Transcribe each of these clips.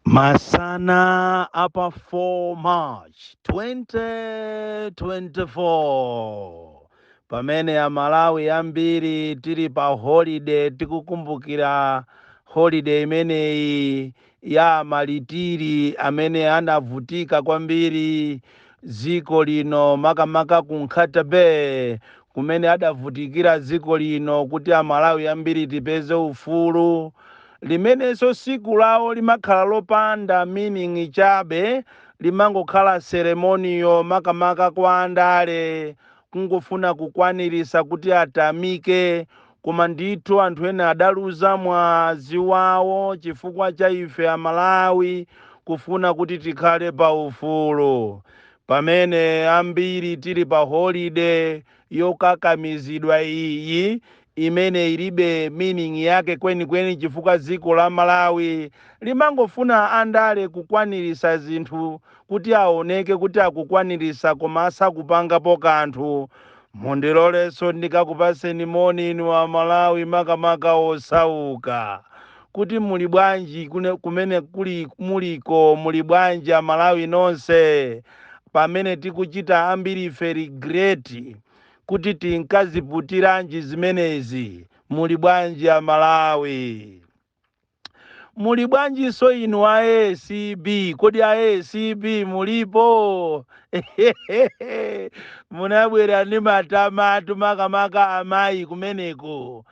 Masana apa 4 March 2024 pamene Amalawi ambiri tili pa holiday tikukumbukira holiday imeneyi ya amalitiri amene anavutika kwambiri dziko lino makamaka ku Nkhata Bay kumene adavutikira dziko lino kuti amalawi ambiri tipeze ufulu, limenenso tsiku lawo limakhala lopanda meaning chabe limangokhala ceremonial makamaka kwa andale kungofuna kukwanirisa kuti atamike koma ndithu anthu ena adaluza mwazi wawo chifukwa cha ife amalawi kufuna kuti tikhale pa ufulu. Pamene ambiri tiri pa holide yokakamizidwa iyi imene ilibe meaning yake kwenikweni chifukwa dziko la Malawi limangofuna andale kukwanirisa zinthu kuti awoneke kuti akukwanirisa koma asakupangapo kanthu, mundiloleso ndikakupaseni moni inu a Malawi makamaka osauka. kuti muli bwanji kumene muliko muli bwanji amalawi nonse pamene tikuchita ambiri ife regret kuti tinkaziputiranji zimenezi muli bwanji amalawi muli bwanjinso inu a acb kodi a acb mulipo munabwera ndi matamatu makamaka amayi kumeneko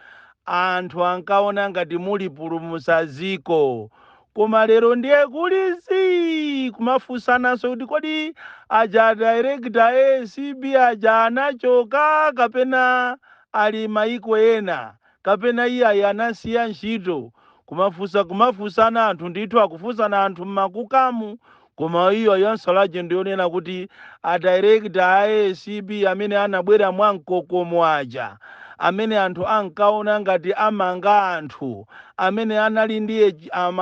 anthu ankaona ngati mulipulumutsa ziko koma lero ndiye kuli zii kumafusananso kuti kodi aja director a acb aja anachoka kapena ali maiko ena kapena iyayi anasiya ntchito kumafusa kumafusana anthu ndithu akufusana anthu mmakukamo koma iyo yonsa lake ndiyonena kuti adirekta a acb amene anabwera mwa mkokomo aja amene anthu ankaona ngati amanga anthu amene anali ndi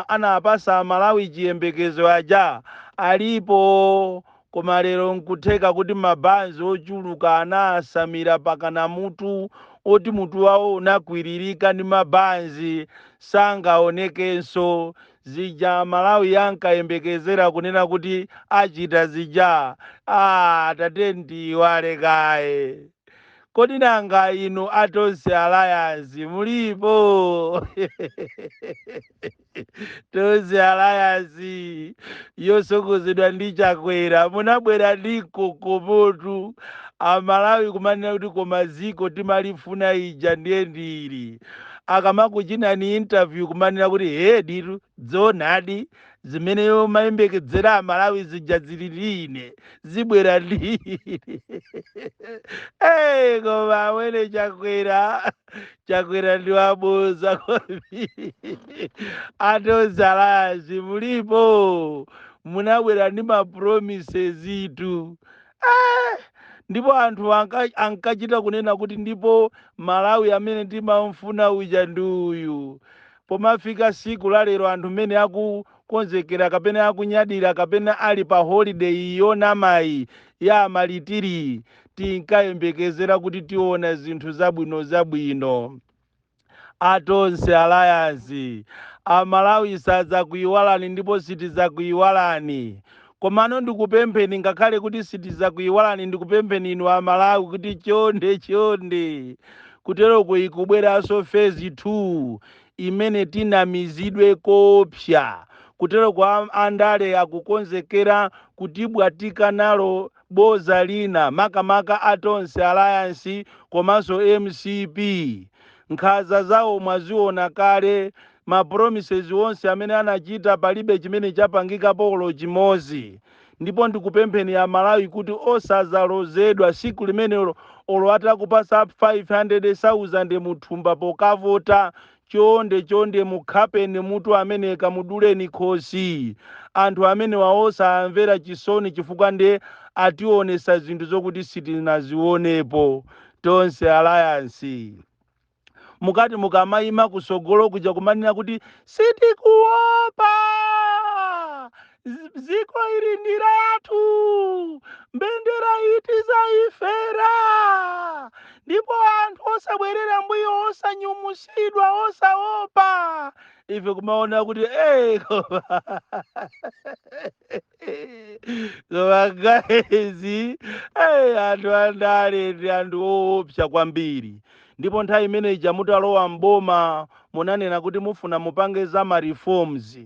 anapasa amalawi chiyembekezo aja alipo koma lero nkutheka kuti mabanzi ochuluka anawasamira pakana mutu woti mutu wawo unakwiririka ndi mabanzi sangaonekenso Zija Amalawi ankayembekezera kunena kuti achita zija, aah tatiyeni tiyiwale kaye. Kodi nanga inu a Tonse Alliance mulipo? Tonse Alliance yosogozedwa ndi Chakwera munabwera ndi mkokomotu, Amalawi kumanena kuti koma ziko timalifuna ija ndiye ndi ili. akamakuchinani interview kumanena kuti he ditu zoonadi zimene timayembekezera amalawi zija zili line zibwera line hey, koma amwene chakwera chakwera ndi waboza kwambiri a Tonse Alliance mulipo munabwera ndi mapromises itu Eh, ndipo anthu anka- ankachita kunena kuti ndipo malawi amene timamfuna uja ndi uyu pomafika siku la lero anthu mmene akukonzekera kapena akunyadira kapena ali pa holiday yonamayi ya a malitiri tinkayembekezera kuti tiona zinthu zabwino zabwino a Tonse Alliance, Amalawi sadzakuiwalani ndipo sitidzakuiwalani. Komano ndikupempheni ngakhale kuti sitidzakuiwalani ndikupempheni inu Amalawi kuti chonde chonde kuteroko ikubweranso phase 2 imene tinamizidwe koopsa. Kuteroko a andale akukonzekera kutibwatika nalo Boza lina makamaka a Tonse alliance komanso mcp nkhaza zawo mwaziona kale ma promises onse amene anachita palibe chimene chapangikapo olo chimozi ndipo ndikupempheni amalawi kuti osazalozedwa siku limenelo olo atakupasa 500,000 mthumba pokavota chonde chonde mukhapeni mutu amene kamuduleni khosi anthu amenewa osawamvera chisoni chifukwa nde ationetsa zinthu zokuti sitinazionepo tonse alliance mukati mukamaima kutsogolo kuja kumanena kuti sitikuopa dziko ili ndi lathu mbendera iyi tizaifera ndipo anthu osabwerera mbuyo osanyumwitsidwa osaopa ife kumaona kuti "Eh, koma koma guys eh, anthu andale ndi anthu oopsa kwambiri ndipo nthawi imene ija mutalowa mboma munanena kuti mufuna mupange za ma reforms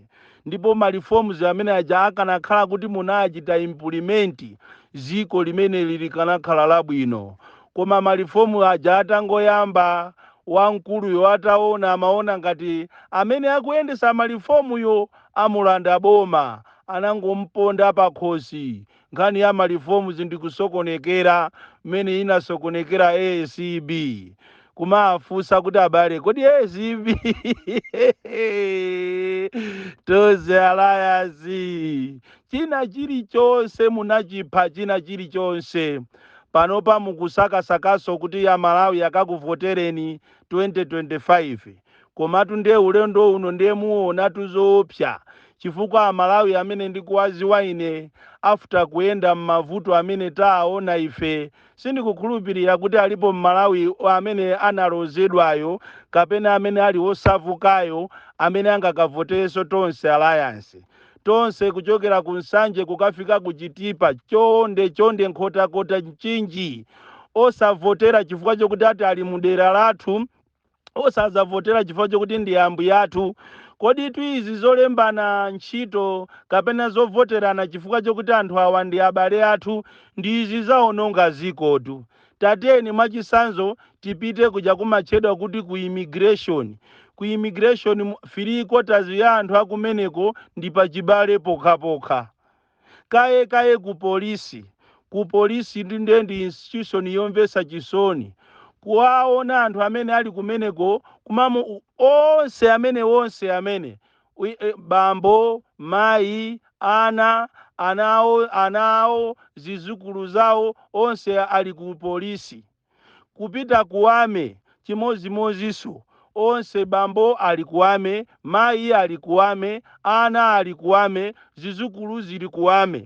ndipo ma reforms amene aja akanakhala kuti munachita implement ziko limeneli likanakhala labwino koma ma reform aja atangoyamba wamkuluyo ataona amaona ngati amene akuyendetsa ma reform yo amulanda boma anangomponda pakhosi Nkhani ya ma reforms ndi kusokonekera mmene inasokonekera A C B kumafunsa kuti abale kodi A C B Tonse Alliance china chilichonse munachipha china chilichonse panopa mukusakasakaso kuti amalawi akakuvotereni 2025 komatu ndiye ulendo uno ndiye muonatu zoopsa chifukwa amalawi amene ndikuwaziwa ine after kuyenda m'mavuto amene taaona ife sindikukhulupirira kuti alipo mmalawi amene analozedwayo kapena amene ali wosavukayo amene angakavoterenso tonse alliance tonse kuchokera ku nsanje kukafika ku chitipa chonde chonde nkhotakota mchinji osavotera chifukwa chokuti ati ali mudera lathu osadzavotera chifukwa chokuti ndi ambuye athu koditu izi zolembana ntchito kapena zovoterana chifukwa chokuti anthu awa ndi abale athu ndi izi zaononga zikotu tatiyeni mwachisanzo tipite kuja kumatchedwa kuti ku immigration ku immigration three quarters ya anthu akumeneko ndi pachibale pokhapokha Kaye kaye ku police, ku police ndi ndi institution yomvetsa chisoni. Kuwaona anthu amene ali kumeneko kumamva onse amene onse amene bambo, mayi, ana, ana awo, ana awo, zizukulu zawo onse ali ku police. kupita ku army, chimodzimodzinso onse, bambo ali ku army, mayi ali ku army, ana ali ku army, zidzukulu zili ku army.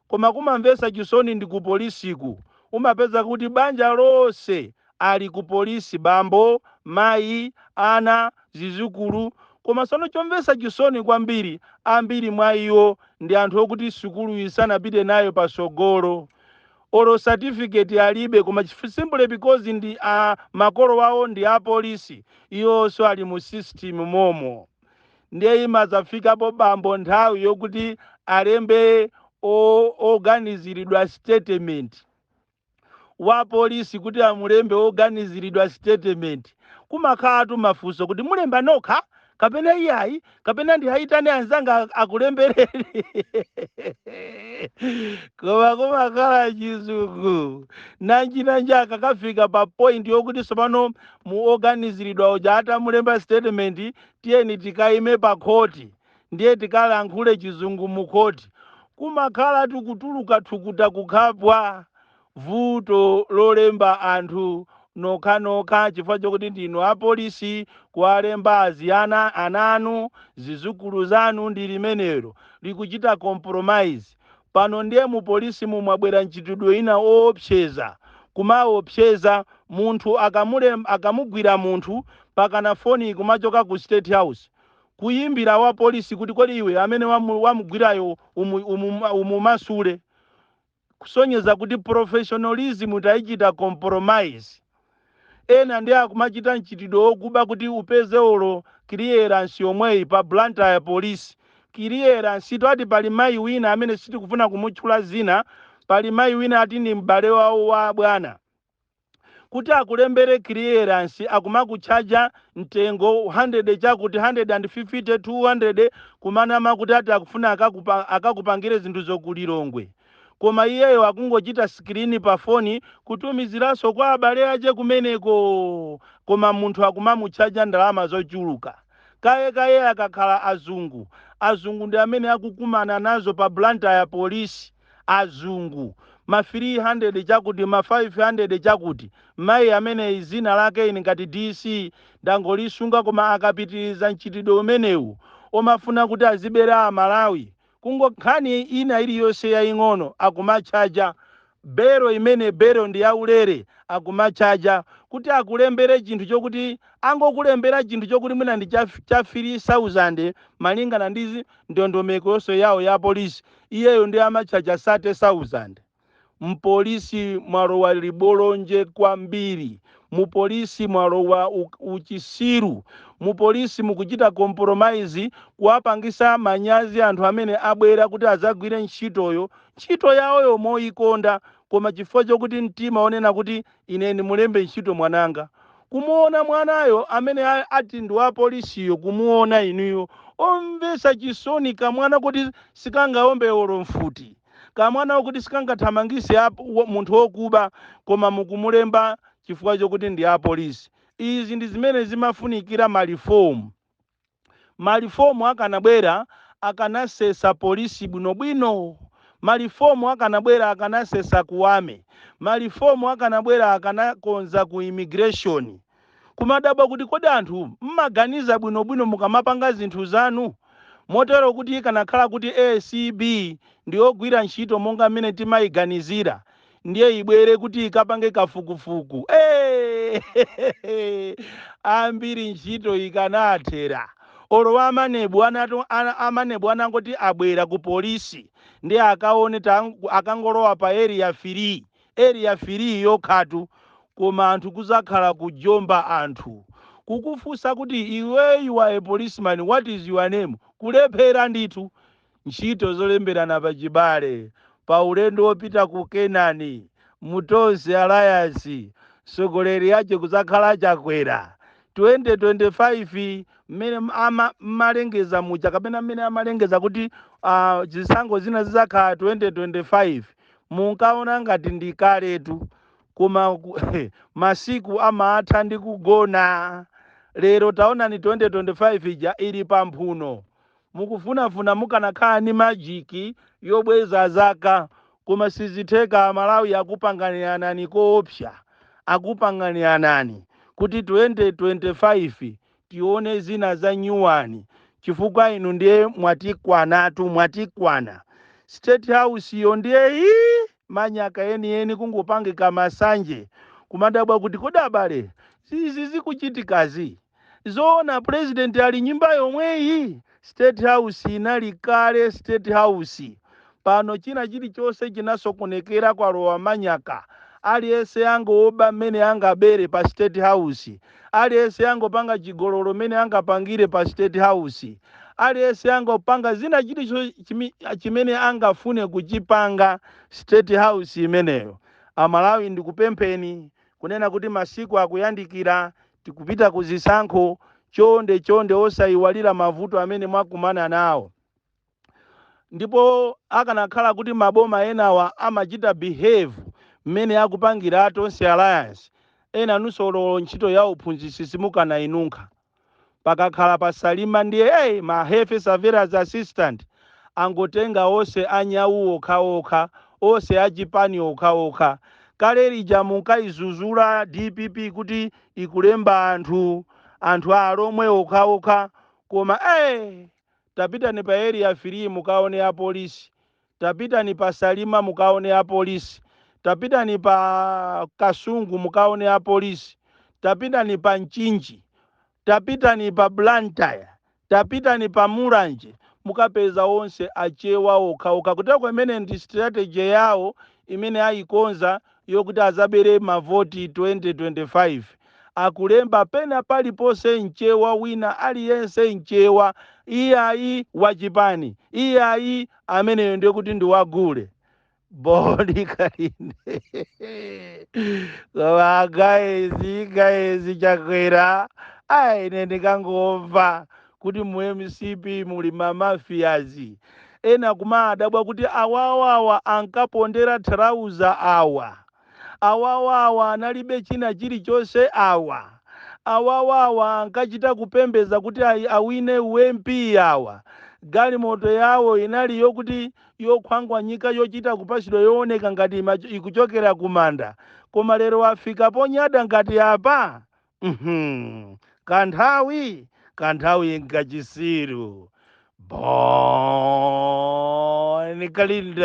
Koma kumamvetsa chisoni ndi ku polisiku, umapeza kuti banja lonse ali ku polisi, bambo, mayi, ana, zidzukulu, koma tsono chomvetsa chisoni kwambiri, ambiri mwa iwo ndi anthu okuti sukuluyi sanapite nayo patsogolo. olo certificate alibe koma simply because ndi makolo awo ndi apolisi iwonso ali mu system momo ndiye imazafikapo bambo nthawi yokuti alembe o- oganiziridwa statement wa polisi kuti amulembe oganiziridwa statement kumakhalatu mafunso kuti mulemba nokha kapena iyayi kapena ndiwayitane anzanga ak- akulembereni koma kumakhala chizungu nanjinanji akakafika pa point yokuti tsopano mu oganiziridwa uja atamulemba statement tiyeni tikayime pa khoti ndiye tikalankhule chizungu mu khoti kumakhala tikutuluka thukuta kukhapwa Vuto lolemba anthu nokhanokha chifukwa chokuti ndinu apolisi kuwalemba azi, ana anu, zizukulu zanu ndi limenelo. Likuchita compromise. Pano ndiye mu polisimu mwabwera mchitidwe wina oopseza. Kumaopseza munthu akamulemb akamugwira munthu mpakana foni ikumachoka ku state house kuyimbira wapolisi kuti kodi iwe amene wamu wamugwirayo umu umu umumasule. kusonyeza kuti professionalism taichita compromise. Ena ndiye akumachita mchitidwe wokuba kuti upeze olo clearance yomweyi pa Blantyre Police. Clearance tu ati pali mayi wina amene sitikufuna kumutchula dzina, pali mayi wina ati ndi m'bale wawo wa abwana. kuti akulembere clearance akumakutchaja mtengo 100 chakuti 150 200 kumanama kuti ati akufuna akakupa, akakupangire zinthuzo ku Lilongwe koma iyeyo akungochita screen pa foni kutumiziranso kwa abale ache kumeneko koma munthu akumamutchaja ndalama zochuluka kaye kaye akakhala azungu azungu ndi amene akukumana nazo pa Blantyre polisi azungu, ma 300 chakuti, ma 500 chakuti. Mayi amene dzina lake ine ngati DC ndangolisunga koma akapitiliza mchitidwe umenewu omafuna kuti azibera a Malawi, kungo nkhani ina iliyonse yaying'ono akumatchaja bail imene bail ndi yaulere akumatchaja kuti akulembere chinthu chokuti angokulembera chinthu chokuti mwina ndi cha 3000 malingana ndi ndondomeko yonse yawo ya police iyeyo nde amatchaja 30,000 mpolisi mwalowa ribolonje kwambiri mupolisi mwalowa u- uchisiru mupolisi mukuchita compromise kuwapangisa manyazi anthu amene abwera kuti adzagwire ntchitoyo ntchito yawoyo moyikonda koma chifukwa chokuti mtima onena kuti Ine ndimulembe ntchito mwananga. Kumuwona mwanayo amene a, ati ndi wa polisiyo, kumuwona inuyo. Omvetsa chisoni, kamwana koti sikangawombe olo mfuti, kamwana koti sikangathamangitse a, wa, munthu wokuba, koma mukumulemba chifukwa chokuti ndi a polisi. Izi ndi zimene zimafunikira ma reform. Ma reform akanabwera akanasesa police bwino bwino, ma reform akanabwera akanasesa ku army, ma reform akanabwera akanakonza ku immigration. Kumadabwa kuti kodi anthu mmaganiza bwino bwino mukamapanga zinthu zanu? Motero kuti ikanakhala kuti acb ndiyogwira ntchito monga mmene timaiganizira, ndiye ibwere kuti ikapange kafukufuku Eh, ambiri ntchito ikanathera olo amanebu anato ana- amanebu anangoti abwera ku polisi ndiye akaone tang- akangolowa pa area 3 area 3 yokhatu koma anthu kuzakhala kujomba anthu kukufunsa kuti iwe you are a policeman what is your name kulephera ndithu Ntchito Zolemberana Pachibale pa Ulendo Wopita ku Kenani mu Tonse Alliance Mtsogoleri Wake Kudzakhala Chakwera 2025 Mmene Amalengeza Muja Kapena Mmene Amalengeza Kuti Zisankho Zina Zidzakhala 2025 Munkaona Ngati Ndi Kaletu Koma Masiku Amatha Ndi Kugona Lero Taonani 2025 Ija Ili Pa Mphuno Mukufunafuna mukanakhala ndi magic yobweza zaka koma sizitheka amalawi akupanganiranani koopsa akupanganiranani kuti 2025 tione zina za nyuwani chifukwa inu ndiye mwatikwanatu mwatikwana state house yo ndiye ii manyaka enieni kungopangika masanje kumadabwa kuti kodi abale izi zikuchitikazi zoona president ali m'nyumba yomweyi state house inali kale state house pano china chilichonse chinasokonekera kwalowa manyaka aliyense angoba mmene angabere pa state house aliyense angopanga chigololo mmene angapangire pa state house aliyense angopanga zina chimi- chimene angafune kuchipanga state house imeneyo amalawi ndikupempheni kunena kuti masiku akuyandikira Tikupita ku zisankho, chonde chonde osaiwalira mavuto amene mwakumana nawo. Ndipo akanakhala kuti maboma enawa amachita behave mmene akupangira a Tonse Alliance, enanunso olo ntchito ya uphunzitsi simukanainunkha. Pakakhala pa Salima ndiye hey! Ma health surveillance assistant angotenga ose a nyau okhaokha ose a chipani okhaokha kale lija munkaizuzula dpp kuti ikulemba anthu anthu a alomwe okhaokha koma ee tapitani pa area 3 mukaone a polisi tapitani pa salima mukaone a polisi tapitani pa kasungu mukaone a polisi tapitani pa mchinji Tapitani pa Blantyre, tapitani pa Mulanje mukapeza onse achewa okha okha kuteroko imene ndi strategy yawo imene ayikonza yokuti azabere mavoti 2025 akulemba pena paliponse mchewa wina aliyense mchewa iyayi wachipani iyayi ameneyo ndekuti ndi wa gule bon kalindo koma guys guys chakwera ayi ine ndikangomva kuti mu mcp muli ma mafias ena kumadabwa kuti awawawa ankapondera trauza awa awawawa analibe china chilichonse awa awawawa ankachita kupembeza kuti ayi awine u mp awa galimoto yawo inali yokuti yokhwangwanyika yochita kupachidwa yooneka ngati ikuchokera kumanda koma lero afika ponyada ngati apa kanthawi kanthawi nkachisiru bon kalindo